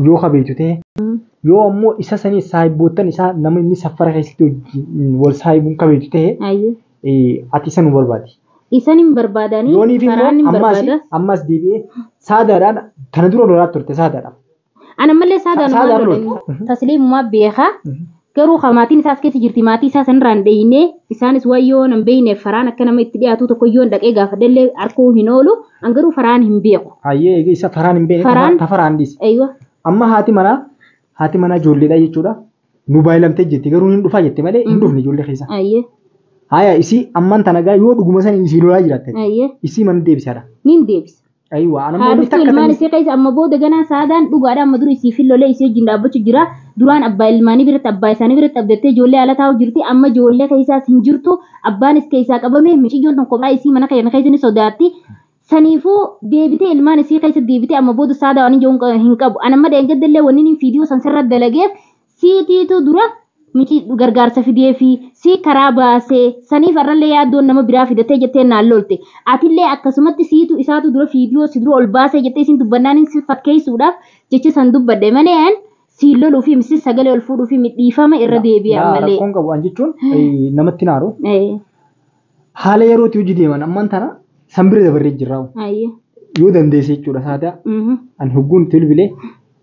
yoo ka beektu ta'e yoo ammoo isa sanii saahiboottan isaa nama inni saffara keessatti wajjin wal saahibuun ka beektu ta'e Ayyee. eh, ati isa nu barbaadi. Isan hin barbaadanii Yooniif karaan hin immoo ammaas barbaada. ammaas deebi'ee saadaadhaan kana dura lolaa turte saadaadhaan. Ana malee saadaan Saadaan waan lolan. lola. Tasliimumaa beekaa. Garuu ka maatiin isaa as keessa jirti maatii isaa sanirraa hin dheeyne isaanis waan yoo nan beeyneef faraan akka nama itti dhiyaatuu tokko yoon dhaqee gaafadhellee arkuu hin oolu an garuu faraan hin beeku. Hayyee eega isa faraan hin beekne Faraan- ta faraan dhiise. Eeywa. Amma haati manaa haati manaa ijoolleedha jechuudha. Nu baay'ilamtee jetti garuu hin dhufaa jette malee hin dhufne ijoollee keessa. Ayyee. Haaya isii ammaan tanagaa yoo dhuguma sanii isii lolaa jiraatte Ayyee. isii mana deebisaadha. Nin deebisa. Ayiwa ana haa dhuftu ilmaan isii keessa amma booda ganaa saadaan dhugaadha amma duri isii fillolee isii wajjin dhaabbachu jira duraan abbaa ilmaanii biratti abbaa isaanii biratti abdattee ijoollee ala taa'u jirti amma ijoollee keessaas hin jirtu abbaanis keessaa qabame miciyyoon tun kophaa isii mana keenya keessa ni sodaatti saniifuu deebitee ilmaan isii keessa deebitee amma booda saadaa waan hin qabu ana amma dheengaddallee wanni inni fiidiyoo san sirra dalageef Siitiitu dura micii gargaarsa fideefi sii karaa baase saniif har'allee yaaddoon nama biraa fidattee jettee naan lolte. Atillee akkasumatti siitu isaatu dura viidiyoo si dura ol baasee jettee isiin dubbannaanin si fakkeessuudhaaf jecha san dubbadhe malee an siin loluufi miti sagalee ol fuudhuufi miti dhiifama irra deebi'e ammallee. Rakkoon qabu an jechuun namatti hin aaru. Haala yerootti hojii deeman amman tana san bira dabarree jirraa. Ayyee. Yoo dandeesse jechuudha saadaa. Mhm. Ani hogguun itti bilbilee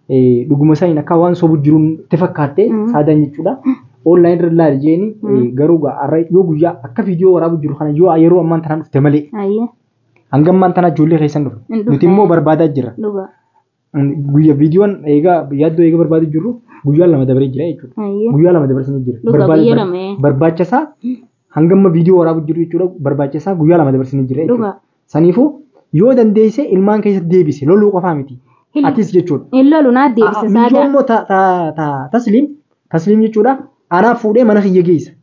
eh, dhuguma isaaniin akka waan sobu jiruun itti fakkaattee Mhm. saadaan jechuudha. Online irra ilaali jeeni eh, garuu gaa har'a yoo guyyaa akka viidiyoo waraabuu jiru kana yoo yeroo ammaan tanaan dhufte malee Ayyee. hanga ammaan tanaa ijoollee keessan dhufe. Hin dhufne. Nuti immoo barbaadaa jirra. Dhugaa. Guyya viidiyoon eegaa yaaddoo eega barbaaduu jirru guyyaa lama dabaree jira jechuudha. Ayyee. Guyyaa lama dabarsanii jira. Dhugaa Barbaade- guyyaa lama, ee. Barbaacha isaa hangamma viidiyoo waraabuu jirru jechuudha. Barbaacha isaa guyyaa lama dabarsanii jira jechuudha. Dhugaa. Saniifuu yoo dandeesse ilmaan keessatti deebise loluu qofaa miti. Hin- Atis jechuudha. Hin lolu naa deebisa Michoo saadaa. immoo ta- ta- ta- tasliim tasliim jechuudha. Anaaf fuudhee mana kiyya geessa.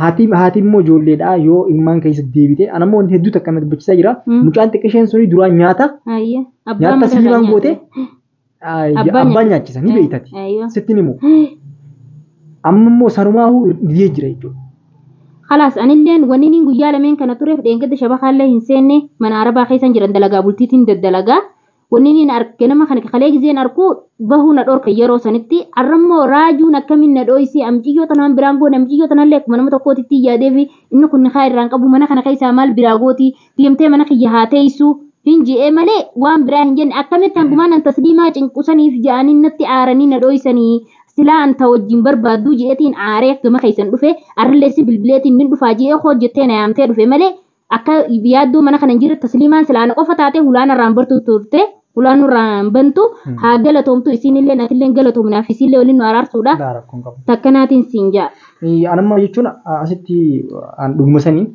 Haati haati immoo ijoolleedha yoo immaan keessa deebite ana immoo hedduu takka na dubbachisaa jira Mm. mucaan xiqqisheen suni duraan nyaata Ayya. Abbaan nyaata mataa sibiilaan kan goote nyaate. ah, Abbaa abbaa nyaachisa ni beektati Aywa. sitti ni himu amma immoo sanumaahuu didee jira jechuudha. Kalaas anilleen wanni niin guyyaa lameen kana tureef dheengadda shabakaallee hin seenne mana arabaa keessan jiran dalagaa bultiitiin daddalagaa Wanni inni na ganama kana kalee gizeen arku bahuu na dhorka yeroo sanitti arrammoo raajuun akkamiin na dhooysee amciyyoo tanaan biraan goone amciyyoo tanallee akkuma nama tokkootitti yaadee fi inni kun nikaa irraan qabu mana kana keessaa maal biraa gooti deemtee mana kiyya haa teeysu hin je'ee malee waan biraa hin jenne akkamitti hangumaan an tasliimaa cinqusaniif ja'anii natti aaranii na dhooysanii silaa anta wajjin barbaadduu je'etiin aaree gama keessan dhufe arrilleessi bilbileetiin nin dhufaa je'ee hojjettee na yaamtee dhufe malee Akka yaaddoo mana kana hin jirre tasliimaan silaa ana qofa taatee hulaa narraan bartu turte. Hulaa nurraan bantu haa galatoomtu isiinillee natillee galatoomi naaf isiillee waliin nu araarsuudha. Laa rakkoo hin qabu. Takka naatiin siin ja'a. Eh, Anamma jechuun a- asitti an dhuguma sanii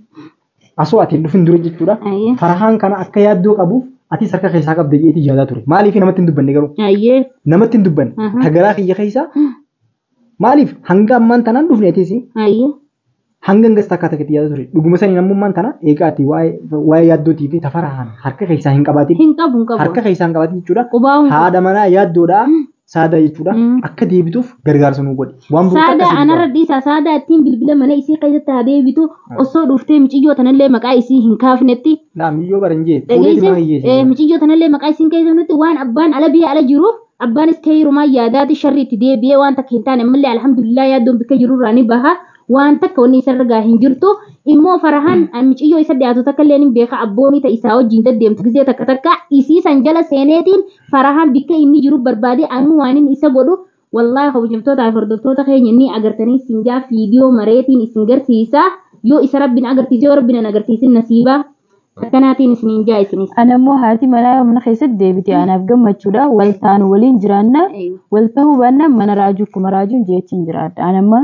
asoo ati hin dhufin dura jechuudha. Ayyee. Farahaan kana akka yaaddoo qabuuf atis harka keessaa qabda jedheetii yaadaa ture. Maaliif namatti hin dubbanne garuu? Ayyee. Namatti hin dubbanne. Aha. Tagaraa kiyya keessaa Maaliif hanga ammaan tanaan dhufne atiis Ayyi. hanga hangas takka takka itti yaada ture. Dhuguma saniin ammummaan tana eegaa ati waa'ee waa'ee yaaddootii fi tafaraan harka keessaa hin qabaatin. Hin qabu hin qabu. Harka keessaa hin qabaatin jechuudha. Qubaa hin qabu. Haadha manaa yaaddoodhaa saadaa jechuudha. Mm. Akka deebituuf gargaarsa nuu godhi. Waan burqaa Saadaa akkasii anarra dubbaa. dhiisaa saadaa ittiin bilbila mana isii keessatti haa deebitu osoo dhuftee miciyyoo tanallee maqaa isii hin kaafnetti Laa miyyoo bara hin jee. Fuudhee Dhageesse, dhimma hin eh, jee. miciyyoo tanallee maqaa isiin keessatti waan abbaan ala biyya ala jiruuf Abbaanis keyrumaa yaadaati sharri itti deebi'ee waan takka hin taane ammallee alhamdulillah yaaddoon bikka jirurraa ni baha waan takka wanni isarra gaha hin jirtu immoo farahan miciyyoo isa dhiyaatu takka illee hin beeka abboonii ta isaa wajjiin daddeemtu gizee takka takka isii san jala seeneetiin farahan bikka inni jiru barbaadee ammoo waan inni isa godhu wallahi kabajamtoota fi hordoftoota keenya ni agartanii isin jaa fiidiyoo mareetiin isin garsiisa yoo isa rabbiin agarsiise yoo rabbiin hin agarsiisin nasiibaa Akkanaatiin isiniin ja'a isinis. Ana immoo haati manaa yoo mana keessatti deebite anaaf gammachuudha. Wal taanu waliin jiraanna. Aywa. Wal tahuu baannaan mana raajuu akkuma raajuun jeechiin jiraadha. Ana amma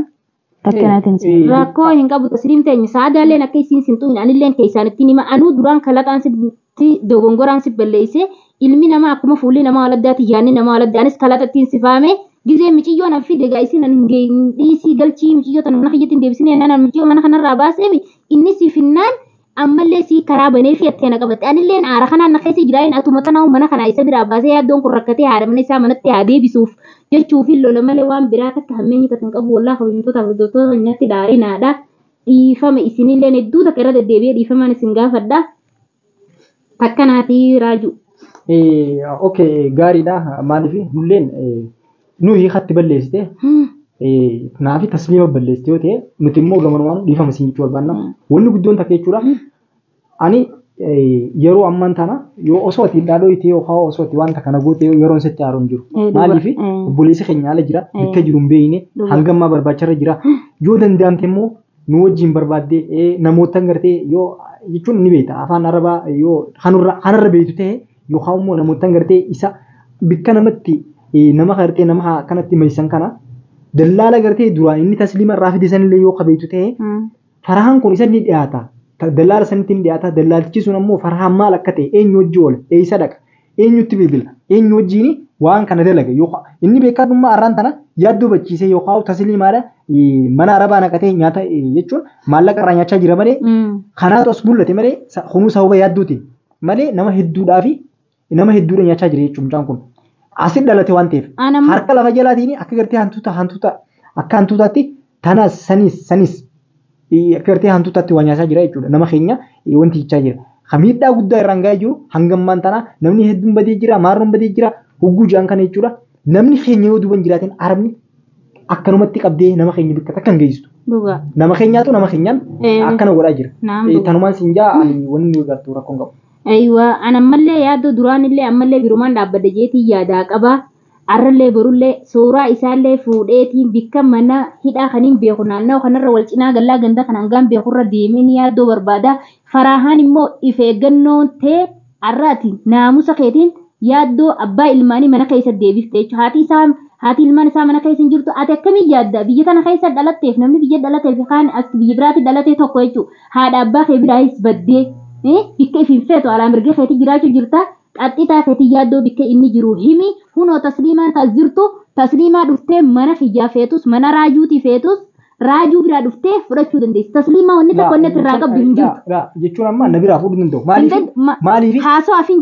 akkanaatiin isin ja'a. Rakkoo hin qabu tasliim teenya saadaalleen akka isiin sin tuqin anilleen keessaan ittiin hima anuu duraan kalaxaan sitti dogongoraan si balleessee ilmi namaa akkuma fuulli namaa waladdaati yaanni namaa waladdaa anis kalaxa ittiin si faame gizee miciyyoo nan fide egaa isiin hin ge- hin dhiisii galchii miciyyoo tana mana kiyyatti hin deebisinee nana miciyyoo mana kanarraa baaseefi inni si finnaan ammallee sii karaa banee fi atti ana qabatte anilleen aara kanaan na keessa jiraayin atuma tanaahu mana kanaa isa biraa baasee yaaddoon kun rakkatee haadha mana isaa manatti haa deebisuuf jechuu fi lola malee waan biraa takka hammeenyi takka hin qabu wallaa kabajamtoota hordoftoota nyaatti daarinaadha dhiifama isinilleen hedduu takka irra deddeebi'ee dhiifamaan isin gaafadha. Takka naati raajuu. Eh, ok gaariidha maaliif nulleen eh, nu hiikatti balleessite eh, naafi tasliima balleessite yoo ta'e nuti immoo gamanumaan dhiifama siin jechuu barbaanna wanni guddoon takka jechuudha ani eh, yeroo ammaan tana yoo osoo ati dhaadhoo itti yookaan osoo ati wanta kana goote yeroon sitti haaroon jiru Eh, dhugaa. maaliif Eh. obboleessi keenya ala jira bakka jiru hin beekne Dhugaa. hanga ammaa barbaacharra jira yoo danda'amte immoo nu wajjin barbaadde namoottan gartee yoo jechuun ni beekta afaan arabaa yoo kanurra kanarra beektu ta'e yookaan immoo namoottan gartee isa bikka namatti nama gartee nama kanatti maysan kana dallaala gartee duraan inni tasliima irraa fide sanillee yoo ka beektu ta'e farahaan kun isa ni dhiyaata dallaala sanitti ni dhiyaata dallaaltichi sun ammoo farahaan maal akka ta'e eenyu hojii oola eessa dhaqa Eenyutti bilbila? Eenyu wajjiin waan kana dalage? Yookaan inni beekaa dhummaa arraan tana yaaddoo bachiisee yookaan tasliimaadha mana arabaa naqatee nyaata jechuun maallaqa irraa nyaachaa jira malee kanaatu as mul'ate malee kunuu sababa yaadduutiin malee nama hedduudhaa fi nama hedduudha nyaachaa jira jechuun mucaan kun asin dhalate waan ta'eef harka lafa jalaatiin akka gartee hantuuta hantuuta akka hantuutaatti Tanas sanis sanis eh, akka gartee hantuutaatti waa nyaasaa jira jechuudha. Nama keenya eh, wanti jechaa jira. Kan miidhaa guddaa irraan ga'ee jiru hanga ammaan tanaa namni hedduun badee jira, maarroon badee jira, hogguu ja'an kana jechuudha. Namni keenya yoo duuban jiraateen arabni akkanumatti qabdee nama keenya bikka takka hin geessistu. Dhugaa. Nama keenyaatu nama keenyaan Eh, akkana godhaa jira. Naam Eh, dhugaa. Tanumaan siin jaa ani wanni nu gartu rakkoon qabu. Aywa, an ammallee yaaddoo duraanillee ammallee birumaan dhaabbadha jeetii yaadaa qaba. Arrallee borullee suuraa isaallee fuudheetiin bikka mana hidhaa kaniin beeku naannawa kanarra wal cinaa gallaa ganda kana hangaan beekurra deemee ni yaaddoo barbaada. Faraahaan immoo if eeggannoon tee arra ati naamusa keetiin yaaddoo abbaa ilmaanii mana keessa deebifte jechuudha. Haati isaa haati ilmaan isaa mana keessa hin jirtu ati akkamiin yaadda biyya tana keessa dhalatteef namni biyya dhalatee fi kaan as biyya biraatti dhalatee tokko jechuudha. Haadha abbaa kee biraayis baddee bikka if hin feetu alaa mirga keetii jiraachuu jirta Qaxxitaa fetii yaaddoo bikkee inni jiruu himii kunoo tasliimaan taas jirtu tasliimaa dhuftee mana kiyyaa feetus mana raajuutii feetus raajuu biraa dhuftee fudhachuu dandeessi tasliimaa wanni takka wanni ati irraa qabdu hin jirtu. Jechuun amma na biraa fuudhuu danda'u maaliif maaliif haasoo afin